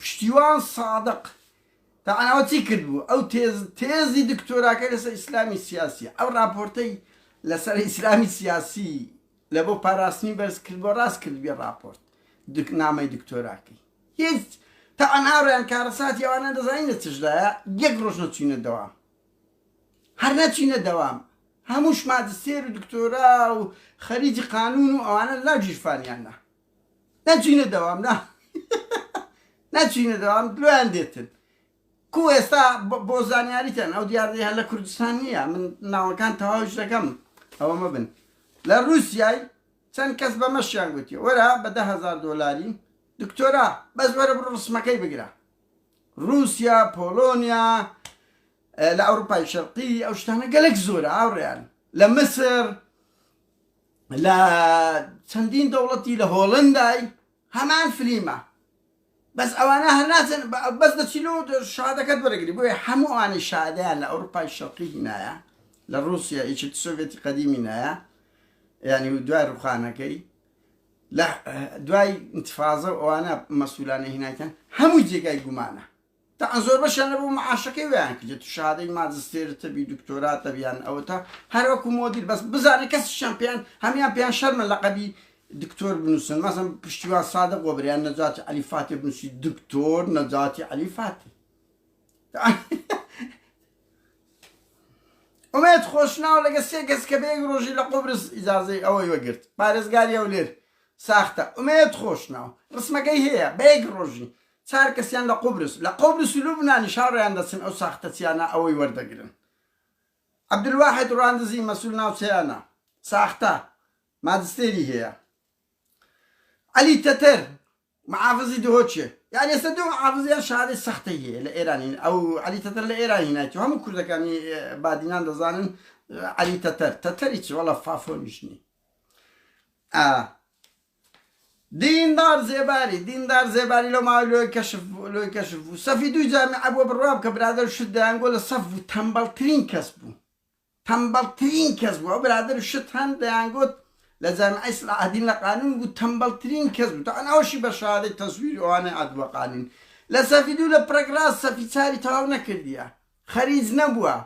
پشتیوان سادق تەنها چی کردبوو؟ ئەو تێز تێزی دکتۆراکەی لەسەر ئیسلامی سیاسیە ئەو ڕاپۆرتەی لەسەر ئیسلامی سیاسی لە بۆ پاراستنی بەرز کردوە ڕاست کردبێ ڕاپۆرت دک نامەی دکتۆراکەی هیچ تەنها ڕێیان کارەساتی ئەوانە دەزانین لە چشدایە یەک ڕۆژ نەچینە دەوام هەر نەچینە دەوام هەمووش ماجستێر و دکتۆرا و خەریجی قانون و ئەوانە لا گیرفانیانە نەچینە دەوام نا نەچینە دەوام درۆیان دێتن کو ئێستا بۆ زانیاریتان ئەو دیاردەیە لە کوردستان نییە من ناوەکان تەواوش دەکەم ئەوە مەبن لە رووسای چەند کەس بە مەشیان گوتی وەرە بە دههزار دۆلاری دکتۆرا بەس وەرە بڕ ڕسمەکەی بگرە رووسیا پۆلۆنیا لە ئەوروپای شەرقی ئەو شتانە گەلک زۆرە ئاوڕیان لە مسر لە چەندین دەوڵەتی لە هۆڵەندای هەمان فلیمە بەس ئەوانە هەر ناچن بەس دەچیلو شادەکەت وەرەگری بۆیە هەموو ئەوانی شادیان لە ئەوروپای شەرقی هینایە لە رووسیا یەکێت سۆڤێتی قەدیمی نایە ینی و دوای ڕوخانەکەی لە دوای انتفاازە ئەوانە مەسولانە هیناکەن هەموو جێگای گومانە تەعەن زۆربەشیان لەبۆ معاشەکەی ویان کردێت و شەهادەی ماجستێرت هەبی دکتۆرات هەبی یان ئەوەتا هەر وەکو مۆدیر بەس بزانە کەسیشیان پێیان هەمیان پێیان شەرمە لەقەبی دکتۆر بنووسن مەزم پشتیوان سادق بۆ بریان نەجاتی عەلی فاتێ بنووسی دکتۆر نەجاتی عەلی فاتێ ئومێت خۆشناو لەگە سێ کەس کە بەیەک ڕۆژی لە قۆبرس ئیجازەی ئەوەی وەگرت پارێزگاری ئەو لێر ساختە ئومێت خۆشناو ڕسمەکەی هەیە بەیەک ڕۆژی چار کەسیان لە قوبرس لە قوبرس و لوبنانیش هاوڕێیان دەچن ئەو ساختەچیانە ئەوەی وەردەگرن عبدالواحد راندزی مەسول ناوچەیانە ساختە ماجستێری هەیە علی تەتەر معافزی دهۆچێ یان ئێستا دوو معافزیان شارەی سەختەی هەیە لە ئێرانین ئەو علی تەتەر لە ئێران هینایەتی هەموو کوردەکانی بادینان دەزانن علی تەتەر تەتەری چی وەڵە فافۆنیشنی دیندار زێباری، دیندار زێباری لەو ماوەی لۆی کەشف بوو، لۆی کەشف بوو، سەفی دووی جامیعە بووە بڕوام کە برادەر و شت دەیانگۆ لە سەف بوو تەمبەڵترین کەس بوو، تەمبەڵترین کەس بوو ئەو برادەر و شت هەن دەیانگۆت لە جامیعەی سلاحەدین لە قانون بوو تەمبەڵترین کەس بوو تەعەن ئەوەشی بە شەهادەی تەزویری ئەوانەی عەدوە قانین لە سەفی دوو لە پرەک ڕاست سەفی چاری تەواو نەکردیە خەریج نەبووە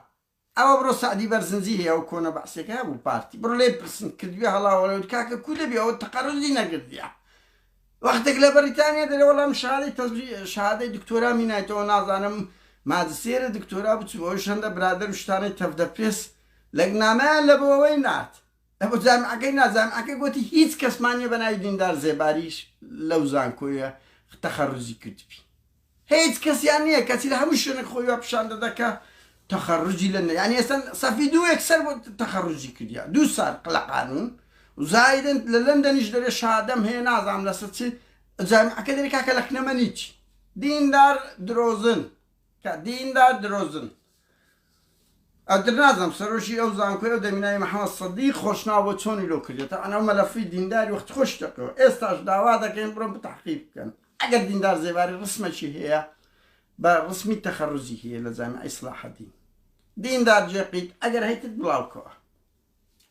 ئەوە بڕۆ سەعدی بەرزنجی هەیە ئەو کۆنە بەعسێکە هەبوو پارتی بڕۆ لێی پرسن کردویە هەڵاو هەڵێوت کاکە کوو دەبی ئەوە تەقەرزی نەگردیە وەختێک لە بەریتانیا دەرێ وەڵام شارەی تەزوی شادەی دکتۆرا مینایتەوە نازانم ماجسێرە دکتۆرا بچوو ئەوش هەندە برادەر و شتانەی تەفدە پرێس لەگنامەیان لە بۆوەی نارد ئەبۆ جامعەکەی نا جامعەکە گۆتی هیچ کەسمان نیە بەناوی دیندار زێباریش لەو زانکۆیە تەخەروزی کردبی هیچ کەسیان نیە کەچی لە هەموو شوێنێک خۆی وا پیشان دەدا کە تەخەروجی لە نە یانی ئێستا سەفی دوو یەکسەر بۆ تەخەروجی کردیە دوو سال قلە قانون و زایدن لە لەندەنیش دەرێ شادەم هەیە نازانم لەسەر چی جامعەکە دەرێ کاکە لەکنەمەنی چی دیندار درۆزن کە دیندار درۆزن. ئەتر نازانم سەرۆکی ئەو زانکۆیە و دەمی ناوی محمد صدیق خۆشناو بۆ چۆنی لۆ کردیە تەعەن ئەو مەلەفی دینداری وەخت خۆش تەکەوە ئێستاش داوا دەکەین بڕۆن بتەحقیق بکەن ئەگەر دیندار زێباری ڕسمەکی هەیە بە ڕسمی تەخەڕوزی هەیە لە جامیعەی سڵاحەدین دیندار جێقیت ئەگەر هەیتت بڵاوکەوە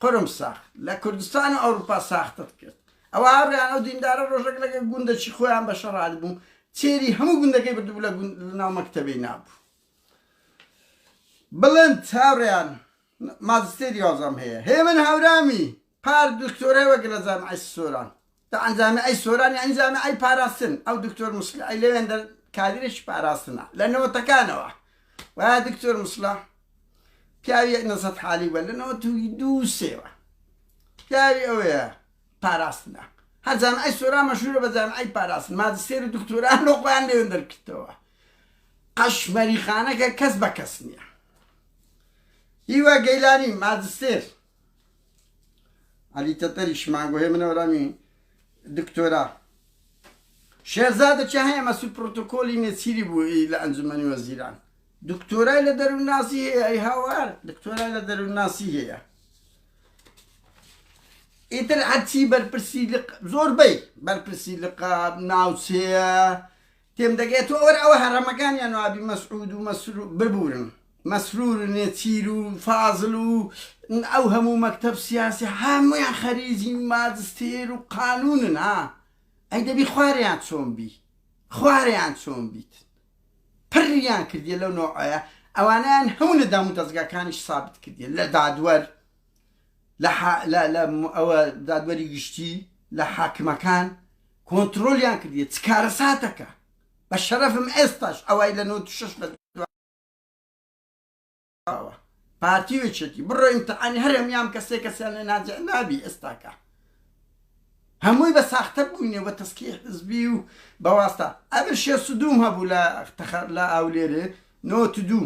قرم ساخت لە کوردستان و ئەوروپا ساختت کرد ئەوە هاوڕیان ئەو دیندارە ڕۆژەک لەگە گوندەکی خۆیان بەشەڕات بوو چێری هەموو گوندەکەی بردبوو لە گوند لە ناو مەکتەبەی نابوو بڵند هاوڕێیان ماجستێری یازدەم هەیە هێمن هاورامی پار دکتۆرای وەک لە جامعی سۆران لە ئەنجامی ئەی سۆران یعنی جامعی ئەی پاراستن ئەو دکتۆر مسلح ئەی لەوێن دەر کادرێکی پاراستنە لە نەوەتەکانەوە و دکتۆر مسلح پیاوی نەزەت حالی وە لە نەوە توی دوو سێوە پیاوی ئەوەیە پاراستنە هەر جامعی سۆران مەشهورە بە جامعی پاراستن ماجستێر و دکتۆران لۆقیان لێوێن دەرکردەوە قەش مەریخانەکە کەس بە کەس نیە. هیوا گەیلانی، ماجستێر، عەلی تەتەریش، مانگۆهێ منەورامی دکتۆرا، شێرزادە چهیە مەسول پرۆتۆکۆلی نێچیری بوو ئی لە ئەنجومەنی وەزیران دکتۆرای لە دەروونناسی هەیە ئی هاوار دکتۆرای لە دەروونناسی هەیە ئیتر هەرچی بەرپرسی لق زۆربەی بەرپرسی لقاب ناوچەیە تێم دەگەیە تۆ وەرە ئەوە هەرەمەکانیان و ئابی مەسعود و مەسرو ببورن مەسرور و نێچیر و فازل و ئەو هەموو مەکتەب سیاسی هەمویان خەریجی ماجستێر و قانونن ها ئەی دەبی خواریان چۆن بی خواریان چۆن بیت پڕیان کردیە لەو نۆعەیە ئەوانیان هەموو لە دامو دەستگاکانیش سابت کردیە لە دادوەر لە ئەوە دادوەری گشتی لە حاکمەکان کۆنترۆلیان کردیە چ کارەساتەکە بە شەرەفم ئێستاش ئەوای لە نۆ شش بە پارتی وچێتی بڕۆ ئیمتحانی هەر هەمیان کەسێک کەسیان لێ ناجع نابی ئێستاکە هەمووی بە ساختە بووینێ بە تەسکی حزبی و بەواستە ئەبر شێ سدوم هەبوو لە تەخەر لە ئاولێرێ نۆ دوو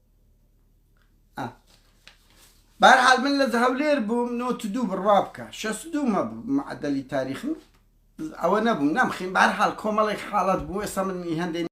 بارحال من لە هەولێر بووم نۆت دوو بڕوا بکە شەس دوو مە معدلی تاریخم ئەوە نەبووم نامخیم بارحال کۆمەڵێک حاڵت بوو ئێستا من هەندێک